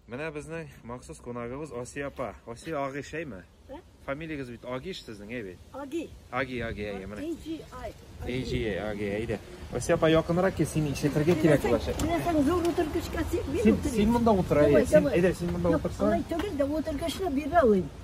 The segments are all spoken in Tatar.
Менә безнең махсус кунагыбыз Асия апа. Асия Аги шәйме? Ә? Фамилиягез бит Агиш сезнең, әй бит. Аги. Аги, Аги, әйе, менә. AGI. Эйжи, Аги, әйдә. Асия апа якынрак кил, син ишетергә кирәк булачак. Менә сән зур утыргычка син мин Син, син утырыйм. монда утыр, әйе. Давай, Син, давай. әйдә, син монда Юк, утырсаң. алай түгел дә утыргычны бирә алыйм.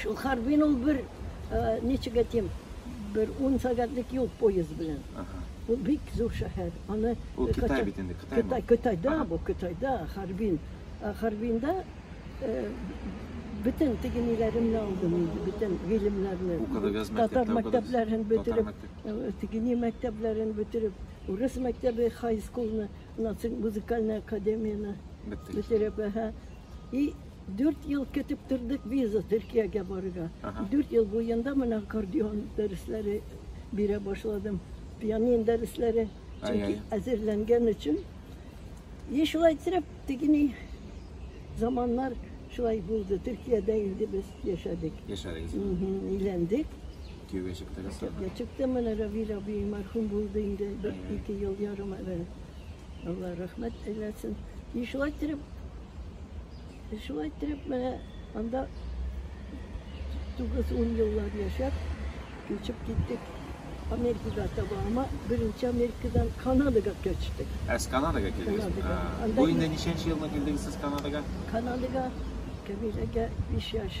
Шул Харбин ул бер, ничек әйтим, бер ун сәгатьлек юл поезд белән. Ул бик зур шәһәр. Аны Ул Кытай бит инде, Кытай. Кытай, Кытайда бу, Кытайда, Харбин. Харбинда бөтен тегениләремне алдым инде, бөтен гыйлемнәрне. Укыдыгыз мәктәптә, татар мәктәпләрен бетереп, тегени мәктәпләрен бетереп, урыс мәктәбе, хай-скулны, музыкальная академияны бетереп, и Дүрт ел көтеп тордык виза Төркиягә барырга. Дүрт ел буенда менә аккордеон дәресләре бирә башладым. Пианин дәресләре чөнки әзерләнгән өчен. И шулай итеп тегени заманнар шулай булды. Төркиядә инде без яшәдек. Яшәдегез. Өйләндек. Кияүгә чыктыгыз. Кияүгә чыктым менә Равил абый мәрхүм булды инде бер ике ел ярым элек. Алла рәхмәт әйләсен. И шулай итеп Шулай итеп, менә анда тугыз-ун еллар яшәп, күчеп киттек Америкага таба. Ама беренче Америкадан Канадага күчтек. Ә сез Канадага килдегез? Канадага. А, Анда Бу инде ин- ничәнче елны килдегез сез Канадага? Канадага Камиләгә биш яшь.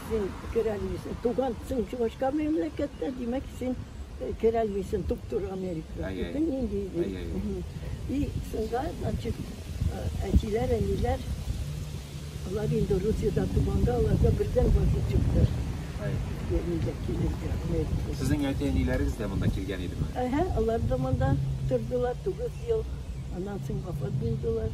Син керәлмисең, тугансың Чувашка мәмләкәттә, димәк, син керәлмисең туп-туры Америкага. Әй, әй. Нинди иде. Әй, әй. Мгм. И шунда, значит, әтиләр, әниләр, алар инде Русиядә туганда, аларга бердән ваза чыкты. Әй. Нигә килергә Америкага. Сезнең әти-әниләрегез дә монда килгән идеме? Әһә, алар да монда тордылар, тугыз ел. Аннан соң вафат булдылар.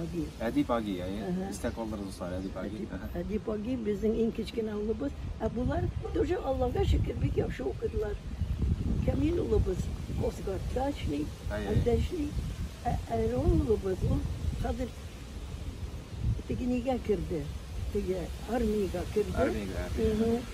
Аги. Әдип Аги, әйе. Истә калдырыгыз, дуслар, Әдип Аги. Әдип Аги безнең иң кечкенә улыбыз. Ә болар тоже Аллага шөкер бик яхшы укыдылар. Камил улыбыз Косгартта эшли, анда эшли. Ә Әрон улыбыз ул хәзер тегенегә керде. Теге армиягә керде. Армиягә.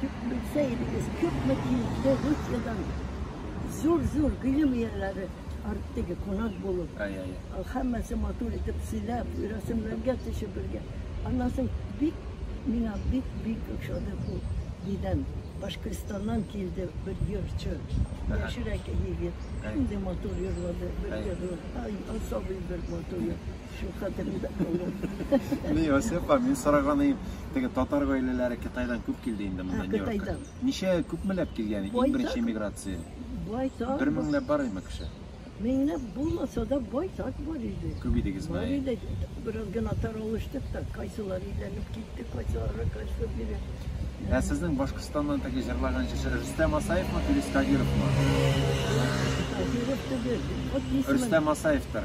Тик белсә идегез, күпме килде Русиядән зур-зур гыйлем ияләре арттыгы кунак булып. Һәммәсе матур итеп сөйләп, рәсемләргә төшеп бергә. Аннан соң бик миңа бик-бик ошады бу дидән. Башкортстаннан килде бер җырчы. Яшьрәк егет. Шундый матур җырлады. Бер җыры. Ай, особый бер матур. Шул хәтеремдә калды. Ни, Василапа, мин сораганым, теге татар гаиләләре Китайдан күп килде инде монда Нью-Йоркка. Ничә күпмеләп килгән иң беренче миграция? Байтак. Бер меңләп бар име кеше? Меңләп булмаса да байтак бар иде. Күп идегезме? Бар иде. Бераз гына таралыштык та, кайсылар өйләнеп китте, кайсылары кайсы бире. Ә сезнең Башкортстаннан теге җырлаган җырчы Рөстәм Асаевмы, Филис Кадировмы? Кадиров түгел. Рөстәм Асаевтыр.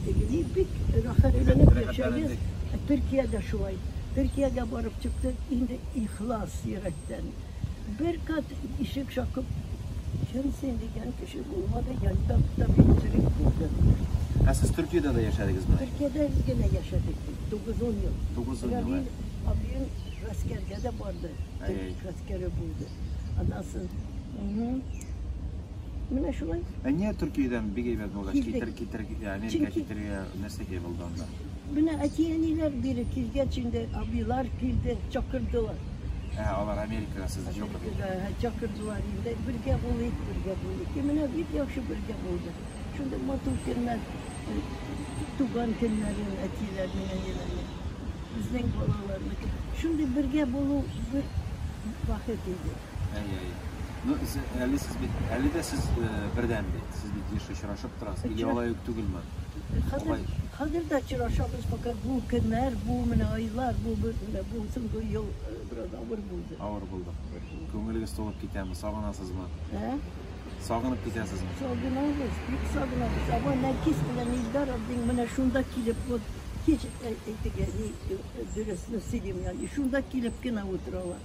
Тегене бик рәхәтләнеп яшәгез. Төркия дә шулай. Төркиягә барып чыктык, инде ихлас йөрәктән. Бер кат ишек шакып, чын син дигән кеше булмады, янда табиб черек булды. Ә сез Төркиядә дә яшәдегезме? Төркиядә генә яшәдек бит, тугыз-ун ел. Тугыз-ун ел, ә. Абыем гаскәргә дә барды, төрек гаскәре булды. Аннан соң, Менә шулай. Ә нигә Төркиядән бик әйбәт булгач, Килдек. китер, китер, ә, Америка Чөнки- китергә нәрсәгә булды анда? Менә әти-әниләр бире килгәч инде, абыйлар килде, чакырдылар. Ә, алар Америкага сезне чакырды. Ә, Чакырдылар инде, бергә булыйк, бергә булыйк. И менә бик яхшы бергә булды. Шундый матур көннәр, э, туган көннәре, әтиләрнең, әниләрнең, безнең балаларның. Шундый бергә булу бер бәхет иде. Әйе, әйе. Ну, әле сез бит, әле дә сез э, бердән бит. Сез бит еш очрашып торасыз. Или алай ук түгелме? Хәзер, хәзер дә очрашабыз, пока бу көннәр, бу менә айлар, бу менә бу соңгы ел э, бераз авыр булды. Авыр булды. Күңелегез тулып китәме? Сагынасызмы? Ә? Сагынып китәсезме? Сагынабыз, бик сагынабыз. Ава Нәкис белән Илдар абдин менә шунда килеп, вот кич әйтегез, дөресне сөйлим, яни шунда килеп кенә утыралар.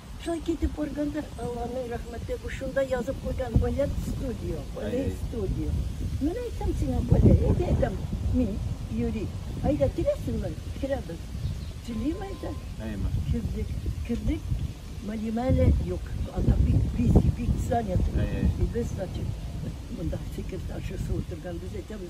Шулай китеп барганда, Алланың рәхмәте, бу шунда язып куйган балет студио, балет студио. Менә әйтәм сиңа, Коля, әйдә, әйтәм, мин, Юрий, әйдә, киләсеңме? Керәбез. Телим әйтә. Әйме. Кердек. Кердек. Мәдимә әле юк. Анда бик бизи, бик занят. Әй-әй. И без, значит, монда секретаршасы утырган, без әйтәбез,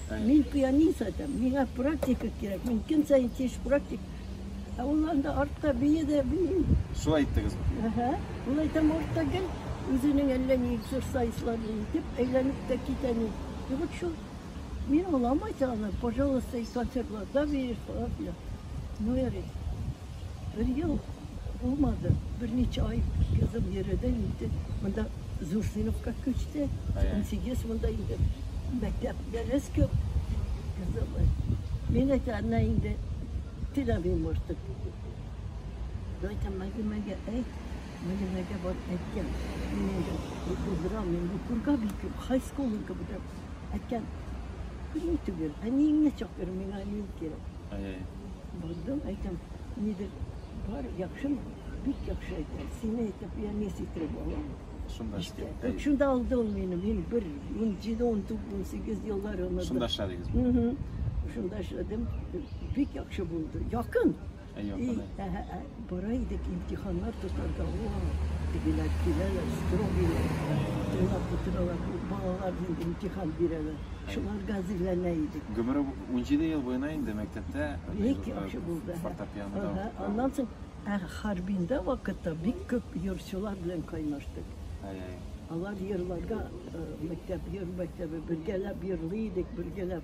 Мин пианист адәм, миңа практика кирәк, мин көн саен тиеш практик. Ә ул анда артта бии дә бии. Шулай иттегез бит. Әһә. Ул әйтәм артта гел үзенең әллә ни эксерсайзларын итеп әйләнеп тә китә ни. И вот шул мин аламайса аны, пожалуйста, и концертларда биеш, фала фила. Ну, ярый. Бер ел булмады, берничә ай кызым йөрде инде. Монда зур сыйныфка күчте. Унсигез монда инде мәктәп дәрес күп. Кызым, мин әйтәннә инде теләмим артык. Дайтам мәгемәгә әйт, мәгемәгә бар әйткән. Мин инде булдырам, мин бу күргә бик күп, хай скулын кебек әйткән. Күрми түгел, әниеңне чакыр, миңа әнием кирәк. Бардым, әйтәм, нидер бар, яхшымы? Бик яхшы әйтә. Сине әйтеп, я не ситреп алам. Шунда эштә. Әй, Шунда алды ул мине. Мин бер 17-18 еллар онытып. Шунда эшләдегез. Мгм. Шунда эшләдем. Бик яхшы булды. Якын. Әй, И, якын. әй. әһә, әһә. Бара идек имтиханнар тотарга, уау, тегеләр киләләр, строгыйлар, тыңлап утыралар, балалар нинди имтихан бирәләр, шуларга әзерләнә идек. Гомере унҗиде ел буена инде мәктәптә Бик яхшы булды. Аннан соң ә Харбинда вакытта бик күп йорчылар белән кайнаштык. Алар йырларга мәктәп йыр мәктәбе бергәләп йырлый идек, бергәләп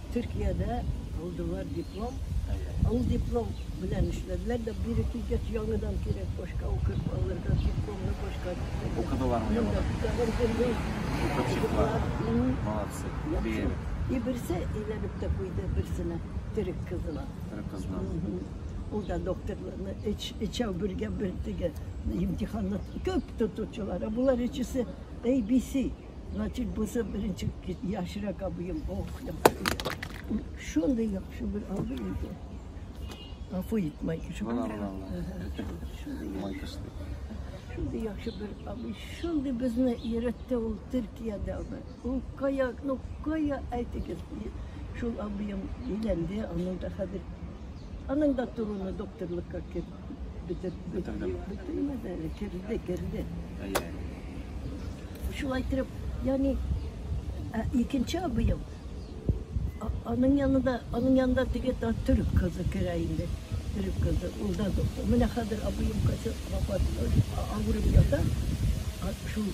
Төркиядә алдылар диплом. Ул диплом белән эшләделәр дә, бире килгәч, яңадан кирәк, башка укып алырга, дипломны башка. Укыдылармы яңадан? Тагын бердәй. Укып чыктылар. Молодцы. Беем. И берсе әйләнеп тә куйды берсенә, төрек кызына. Төрек кызына. Ул да докторларны эч, эчәү бергә бер теге имтиханны күп тотучылар. Ә булар өчесе ABC. Значит, бусы беренче яшрәк абыем. Ох, да. Шундый яхшы бер абый иде. Гафу ит, Майкыш. Була, була, була. Майкыш. Шундый яхшы бер абый. Шундый безне өйрәтте ул Төркиядә. Ул кая, ну кая әйтегез. Шул абыем өйләнде, аның да хәзер. Аның да торуны докторлыкка керде. Бетеп, бетеп, бетемәде әле, керде, керде. Әйе. Шулай итеп, яни ә, икенче абыем, аның янында, аның янында теге та төрек кызы керә инде. Төрек кызы, ул да доктор. Менә хәзер абыем кайсы вафат, авырып ята. Шул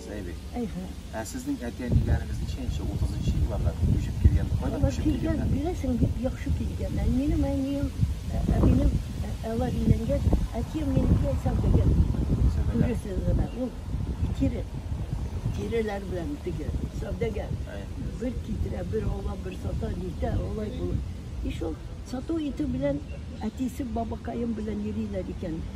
Зәйбек. Әйһә. Ә сезнең әти-әниләрегез ничәенче, утызынчы елларда күчеп килгән, кайда күчеп килгән? Беләсең, бик яхшы килгән. Ә минем әнием, әбинем, алар өйләнгән, әтием минеке сәүдәгәр булган. Күрәсең генә, ул тире, тиреләр белән теге, сәүдәгәр. Бер китерә, бер ала, бер сата, нитә, алай булып. И шул сату итү белән әтисе бабакаем белән йөриләр икән.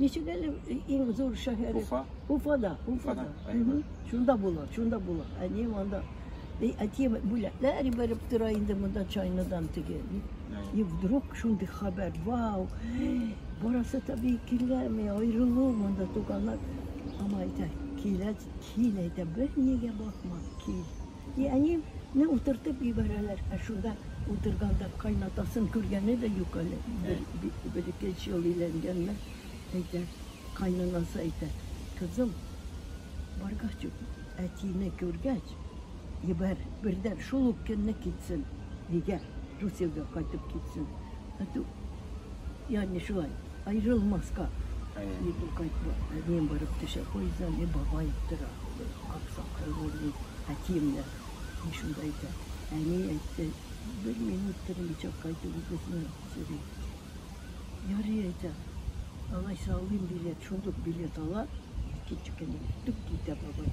Ничек әле иң зур шәһәре? Уфа. Уфада, Уфада. Шунда була, шунда була. Әни анда. Әти бүләкләр ибәреп тора инде монда чайныдан теге. И вдруг шундый хәбәр, вау! Барасы таби килгәнме, аерылу монда туганлар. Ама әйтә, килә, кил әйтә, бер нигә бакма, кил. И әни не утыртып җибәрәләр, ә шунда утырганда кайнатасын күргәне дә юк әле, бер ике өч ел өйләнгәннәр, әйтә, кайнанасы әйтә, кызым, баргач ук әтине күргәч, җибәр, бердән шул ук көнне китсен, өйгә, Русиягә кайтып китсен, әтү, яни шулай. Аерылмаска дип ул кайтты. Әнием барып төшә, поезддан, и бабай тора, аксакаллы ди, әтием дә. И шунда әйтә, әни әйтте, бер минут тормыйча кайтуыгызны сорый. Ярый әйтә, алайса алыйм билет, шундук билет ала, икенче көнне үк китә бабай.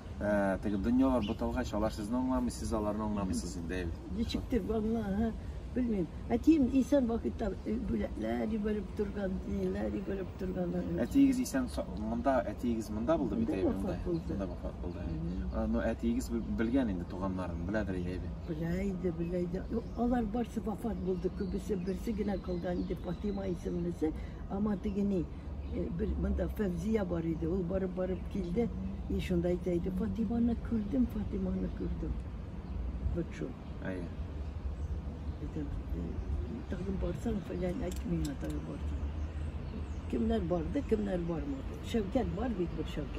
Ә, теге дөньялар буталгач, алар сезне аңламый, сез аларны аңламыйсыз инде, әйбит. Ничектер ванна, белмим. Әтием исән вакытта э, бүләкләр җибәреп торган, ниләр җибәреп торган. Әтиегез исән монда, әтиегез монда булды бит әйбит. Монда булды. Монда вафат булды. Но әтиегез белгән инде туганнарын, беләдер иде әйбит. Белә иде, белә иде. Алар барсы вафат булды, күбесе берсе генә калган иде, Фатима исемлесе, ама тегени. Э, бер монда Фәвзия бар иде, ул барып-барып килде, и шунда әйтә иде, Фатиманы күрдем, Фатиманы күрдем. Вот шул. Әйе. Э, тагын барсаң, фәлән әйт миңа тагын барсаң. Кемнәр барды, кемнәр бармады. Шәүкәт бар бит бер Шәүкәт.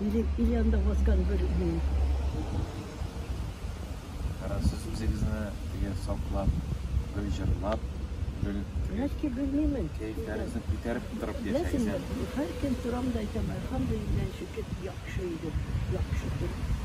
Или, или анда баскан бер юл. Ара сез үзегезне теге саклап, гөл җырлап, гөл Нәрсә белмимен. Кәйфләрегезне күтәреп торып яшәгез. Һәр көн торам да әйтәм, альхамдулиллаһ, шөкер, яхшы идем, яхшы идем.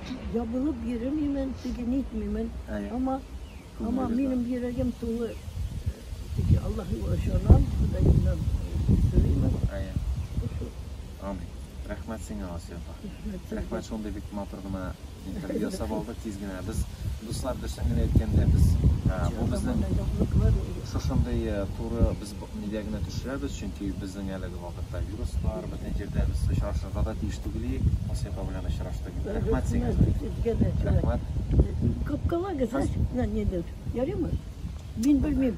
ябылып йөремимен, теге нитмимен, әмма, әмма минем йөрәгем тулы теге Аллаһыга ышанам, Ходаемнан сорыймын. Әйе. Амин. Рәхмәт сиңа, Асия апа. Рәхмәт шундый бик матур гына интервью ясап алдык тиз генә. Без дуслар дөресен генә әйткәндә без бу безнең шушындый туры без нигә генә төшерәбез, чөнки безнең әлеге вакытта вирус бар, безнең җирдә без очрашырга да тиеш түгел иек. Асия апа белән очраштык инде. Рәхмәт сиңа. Рәхмәт. Капкалар гына нидер. Ярыймы? Мин белмим.